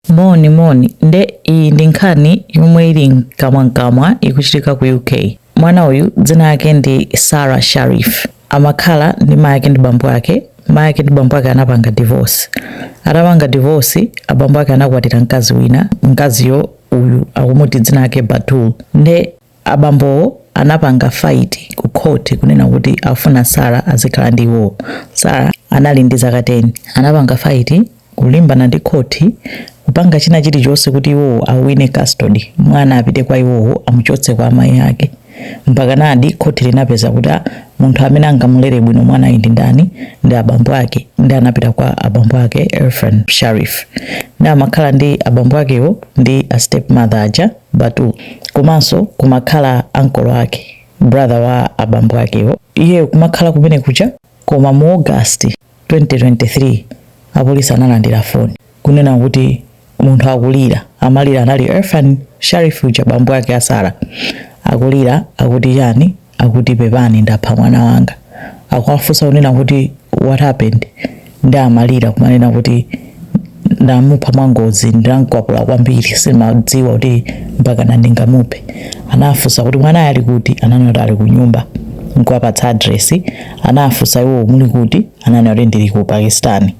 Moni moni nde iyi ndi nkhani yomwe ili mkamwamkamwa ikuchitika ku UK. Mwana uyu dzina yake ndi Sarah Sharif amakhala ndi mayi ake ndi bambo ake. Mayi ake ndi bambo ake anapanga divorce, atapanga divorce abambo ake anakwatira mkazi wina, mkaziyo uyu akumuti dzina yake Batul. Nde Abambowo anapanga fight ku court kunena kuti akufuna Sarah azikhala ndi iwowo. Sarah anali ndi zaka 10. Anapanga fight kulimbana ndi court kupanga china chilichonse kuti iwowo awine custody. Mwana apite kwa iwowo amuchotse kwa amayi ake. Mpakanadi court linapeza kuti munthu amene angamulere bwino mwanayu ndi ndani ndi abambo ake nde anapita kwa abambo ake Irfan Sharif. Nde amakhala ndi abambo akewo ndi a step mother aja. batul komanso kumakhala ankolo ake brother wa abambo akewo iyeyo kumakhala kumene kucha koma mu august 2023 apolisi analandira foni kunena kuti munthu akulira amalira anali irfan sharif uja bambo ake a sara akulira akuti chani akuti pepani ndapha mwana wanga akuwafunsa kunena kuti what happened ndi amalira kumanena kuti ndamupha mwangozi ndinankwapula kwambiri simadziwa kuti mpaka nandingamuphe anafunsa kuti mwanayo ali kuti ananena kuti ali kunyumba nkuwapatsa adresi anafunsa iwo muli kuti ananena kuti ndili ku pakistan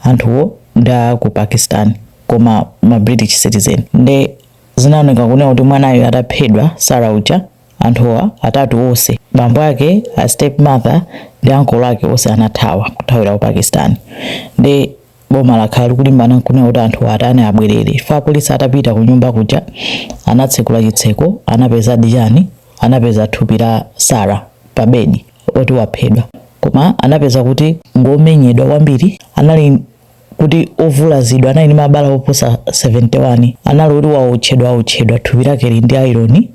anthuwo nda ku pakistan koma ma british citizen nde zinaoneka kunena kuti mwanayo ataphedwa sara uja Anthuwa atatu onse, bambo ake, a step mother ndi ankolo ake onse anathawa kuthawira ku Pakistan nde boma lakhala likulimbana kunena kuti anthuwa atani abwerere chifukwa apolisi atapita ku nyumba kuja anatsekula chitseko anapezadi chani anapeza thupi la Sarah pa bedi oti waphedwa koma anapeza kuti ngomenyedwa kwambiri anali kuti ovulazidwa anali ndi mabala oposa 71 anali oti waotchedwa aotchedwa thupi lake lili ndi aironi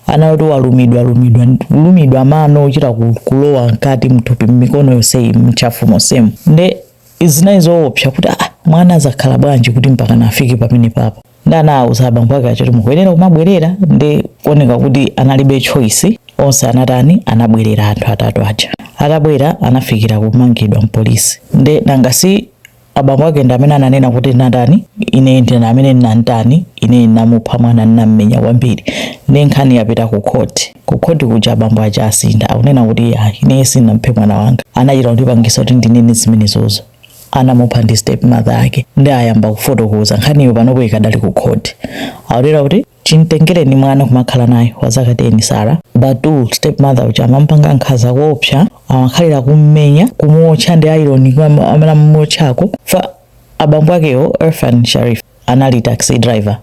anali oti walumidwa lumidwa kulumidwa mano ochita ku- kulowa mkati mthupi mmikono yonseyi mntchafu monsemu nde zinali zoopsa kuti ah, mwana amakhala bwanji kuti mpaka nafike pamenepapa ndi anawuza abambo ake aja kuti mukuyenera kumabwerera ndi kuoneka kuti analibe choice onse anatani anabwerera anthu atatu aja atabwera anafikira kumangidwa mpolisi nde nanga si abambo ake ndi amene ananena kuti ndatani ine ndine amene ndinamutani ine ndinamupha mwana ndinammenya kwambiri ndi nkhani yapita ku khoti ku khoti kuja abambo aja asintha akunena kuti ayi ine sindinamuphe mwana wanga anachita kundipangisa kuti ndinene zimenezozo anamupha ndi step mother ake ndi ayamba kufotokoza nkhaniyo panopo ikadali ku court aulula kuti chimtengereni mwana kumakhala naye wa zaka 10 sara batul step mother uja amampanga nkhanza kuopsa amakhalira kummenya kumuotcha ndi ironi amene amuotchako fa abambo akewo irfan sharif anali taxi driver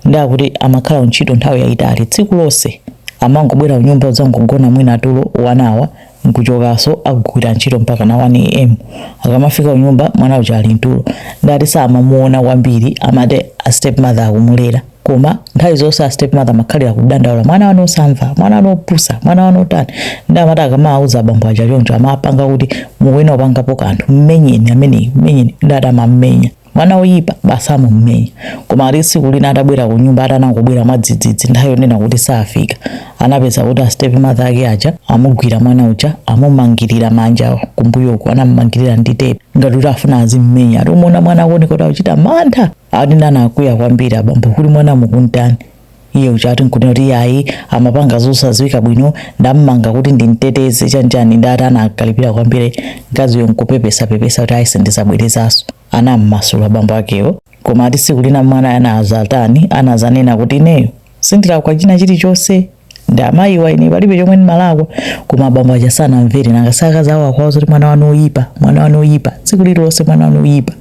ndiye akuti amakhala kuntchito nthawi yayitali tsiku lonse amangobwera kunyumba kudzangogona mwina tulo wa one hour nkuchokaso kukagwira ntchito mpaka na 1 am akamafika kunyumba mwana uja ali mtulo ndiye ati samamuona kwambiri amati a stepmother akumulera koma nthawi zonse a stepmother amakhalira kudandaula mwana wanu osamva mwana wanu opusa mwana wanu otani ndiye amati akamawauza abambo aja choncho amapanga kuti mukuyenera kupangapo kanthu mmenyeni ameneyi mmenyeni ndiye ati amammenya Mwana woyipa basi amamumenya. Koma ati tsiku lina atabwera kunyumba atanangobwera mwadzidzidzi nthawi yonena kuti safika, anapeza kuti a step mother ake aja amugwira mwana uja amumangirira manja kumbuyo uku anamumangirira ndi tape ngati kuti afuna azimumenya. Ati kumuona mwana akuoneka kuti akuchita mantha. Ati nayenso anakwiya kwambiri, abambo kuti mwana mukuntani? Iye uja ati nkunena kuti iye ayi amapanga zosadziwika bwino ndammanga kuti ndimteteze chanichani ndiye ati anakalipira kwambiri mkaziyo nkupepesapepesa kuti ayi sindizabwerezanso anammasula abambo akewo koma ati tsiku lina mwana anazatani anazanena kuti ineyo sindilakwa china chilichonse ndi amayiwa ine palibe chomwe ndimalakwa koma abambo aja sanamvere nanga si akazi awo akuwauza zoti mwana wanu oyipa mwana wanu oyipa tsiku lililonse mwana wanu oyipa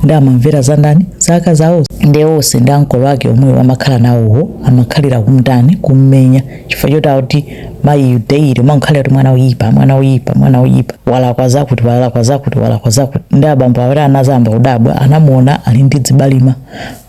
ndiye amamvera za ndani za akazi awo ndiye onse ndi ankolo ake omwewo amakhala nawowo amakhalira kumtani kummenya chifukwa choti akuti mayiyu daily amakhalira kuti mwana oyipa mwana oyipa mwana oyipa walakwa zakuti walakwa zakuti walakwa zakuti ndiye abambo avomera anazayamba kudabwa anamuona ali ndi zibalima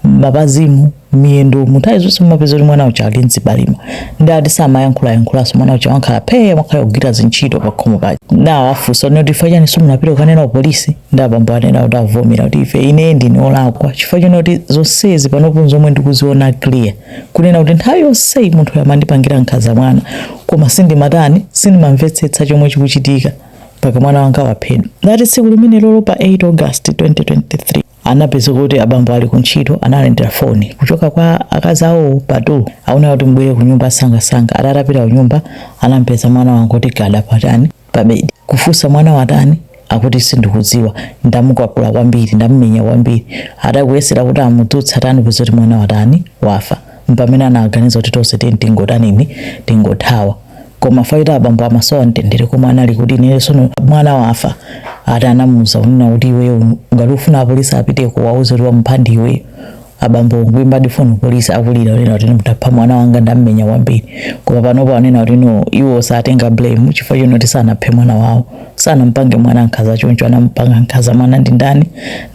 mmapazimu miyendo mu nthawi zonse amapeza kuti mwana uja ali ndi zibalima ndiye ati samayankhulayankhulanso mwana uja amangokhala phee amakhala kugwira zintchito pakhomo paja ndiye awafunsa kuti chifukwa chani simunapita kukanena ku polisi ndiye abambo anena kuti avomera kuti ife ine ndine olakwa chifukwa chonena kuti zonsezi panopo ndi pomwe ndikuziona clear kunena kuti nthawi yonseyi munthu uja amandipangira nkhaza mwana koma sindimatani sindimamvetsetsa chomwe chikuchitika mpaka mwana wanga waphedwa ndiye ati tsiku limenelolo pa 8 august 2023 anapezeka kuti abambo ali kuntchito analandira foni kuchoka kwa akazi awo pa two hour kuti mubwere kunyumba msangamsanga ati atapita kunyumba anampeza mwana wangoti gada patani pabedi kufunsa mwana watani akuti sindikudziwa ndamukwapula kwambiri ndamumenya kwambiri ati kuyesera kuti amudzutse atani kupeza kuti mwana watani wafa mpamene anaganiza kuti tonse titani tingotanini tingothawa koma fight abambo amasowa mtendere komwe anali kuti ineyo sono mwana wafa ati anamuuza kunena kuti iweyo ngati ufuna apolisi upite ukawauze kuti wamupha ndi iweyo abambo nkuimbadi foni kupolisi akulira kunena kuti ndapha mwana wanga ndammenya kwambiri koma panopo anena kuti no iwo satenga blame chifukwa chonena kuti sanaphe mwana wawo sanampange mwana nkhaza choncho anampanga nkhaza mwana ndi ndani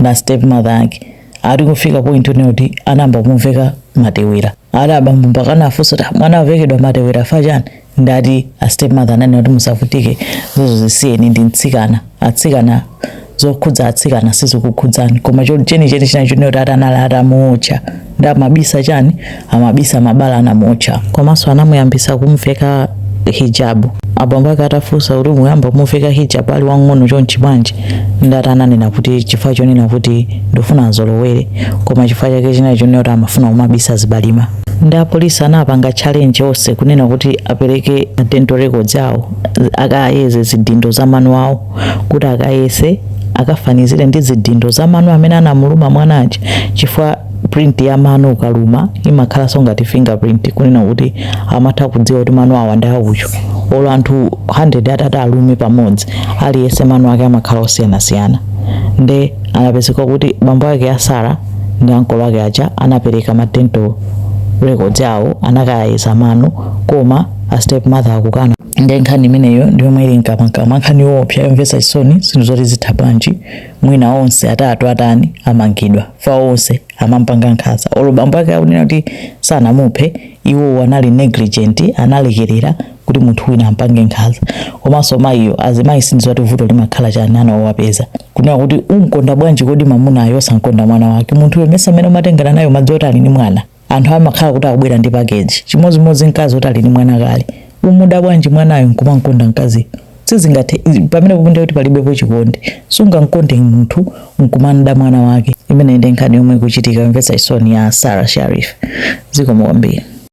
ndi a step mother ake ati kufika point yonena kuti anayamba kumuveka matewera ati abambo mpaka anafunsa kuti mwana avekedwa matewera fa chani ndati a stepmother ananena kuti musavutike zizo zisiyeni ndi mtsikana atsikana zokhudza atsikana sizikukhudzani koma cho- chenicheni chinali chonena kuti ati anali atamuotcha nde amabisa chani amabisa mabala anamuotcha komanso anamuyambitsa kumuveka hijabu abambo ake atafunsa kuti mwayamba kumuveka hijabu ali wang'ono chonchi bwanji ndati ananena kuti chifukwa chonena kuti ndifuna azolowere koma chifukwa chake chinali chonena kuti amafuna kumabisa zibalima nde apolisi anapanga challenge onse kunena kuti apereke dental records awo akayeze zidindo za mano awo kuti akayese akafanizire ndi zidindo za mano amene anamuluma mwana uja chifukwa print ya mano ukaluma imakhalanso ngati fingerprint kunena kuti amatha kudziwa kuti mano awa ndi a uyo olo anthu 100 atati alume pamodzi aliyense mano ake amakhala osiyanasiyana nde anapezeka kuti bambo ake a Sara ndi ankolo ake aja anapereka ma dental records awo anakayeza mano koma a stepmother akukana nde nkhani imeneyo ndiyomwe ili mkamwamkamwa nkhani yoopsa yomvetsa chisoni zinthu zoti zitha bwanji mwina onse atatu atani amangidwa fa onse amampanga nkhanza olo bambo ake akunena kuti sanamuphe iwowo anali negligent analekerera kuti munthu wina ampange nkhanza komanso mayiyo azimayi sindidziwa kuti vuto limakhala chani ana owapeza kunena kuti umkonda bwanji kodi mamunayo osamkonda mwana wake munthuyo mesa amene umatengana naye mwadziwa kuti ali ndi mwana anthu amakhala kuti akubwera ndi pakeji chimodzimodzi mkazi oti ali ndi mwana kale umuda bwanji mwanayo nkumamkonda mkaziyo sizingatheke pamene pophunzira kuti palibepo chikondi sungamkonde munthu nkumamda mwana wake imeneyo nde nkhani yomwe ikuchitika yomvetsa chisoni ya Sarah Sharif zikomo kwambiri